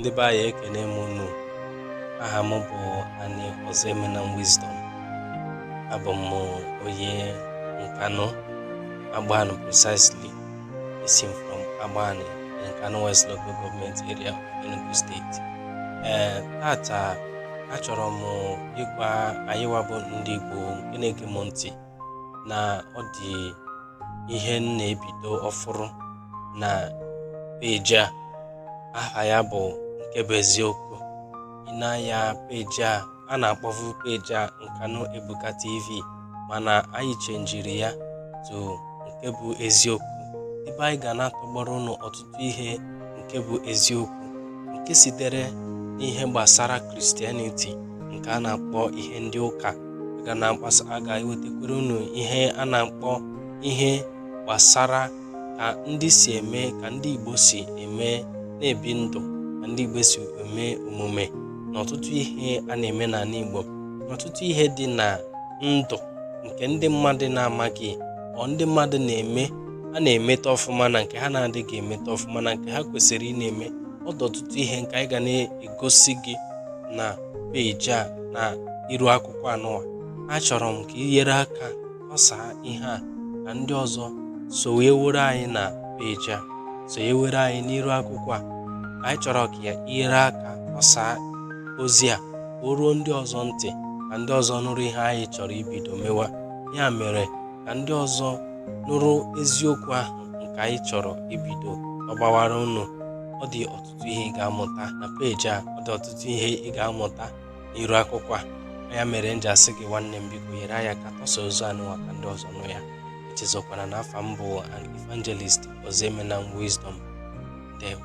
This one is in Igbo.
ndị be anyị ekene m unu aha m bụ Ani Ozoemenam Wisdom abụ m onye nkanụ Agbani precisely esi m from Agbani nkanụ west local government area of enugu steeti ee tata achọrọ m ịgwa anyị wabụ ndị igbo nke na-ege m ntị na ọ dị ihe m na-ebido ọfụrụ na peji a aha ya bụ nke bụ eziokwu ị na-anya peji a a na-akpọvu peji a Nkanu Ebuka TV mana anyị chenjiri ya to nke bụ eziokwu ebe anyị ga na-atọgbọrọ unu ọtụtụ ọtụtụ ihe nke bụ eziokwu nke sitere n'ihe gbasara kristianiti nke a na-akpọ ihe ndị ụka a ga na-agbasa a ga-ewetakwere unu ihe a na-akpọ ihe gbasara ka ndị si eme ka ndị Igbo si eme na-ebi ndụ ka ndị Igbo si eme omume na ọtụtụ ihe a na-eme n'ala Igbo na ọtụtụ ihe dị na ndụ nke ndị mmadụ na-amaghị ọ ndị mmadụ na-eme ha na-emeta ọfụma na nke ha na-adịghị emeta ọfụma na nke ha kwesịrị ịna-eme ọ dị ọtụtụ ihe nke anyị ga na-egosi gị na peji a na iru akwụkwọ anụwa achọrọ m ka i nyere aka kọsaa ihe a ka ndị ọzọ sonyewere anyị na peji a sonyewere anyị n'iru akwụkwọ a anyị chọrọ ka i nyere aka kọsaa ozi a o ruo ndị ọzọ ntị ka ndị ọzọ nụrụ ihe anyị chọrọ ibido mewa ya mere ka ndị ọzọ nụrụ eziokwu ahụ nke anyị chọrọ ibido ọgbawara unu ọ dị ọtụtụ ihe ị ga-amụta na peji a ọ dị ọtụtụ ihe ị ga-amụta n'iru akwụkwọ a ya mere m ji asị gị nwanne m biko nyere anyị aka tọsa ozi anụwa ka ndị ọzọ nụ ya echezọkwana na afa m bụ an evangelist Ozoemenam Wisdom ndewo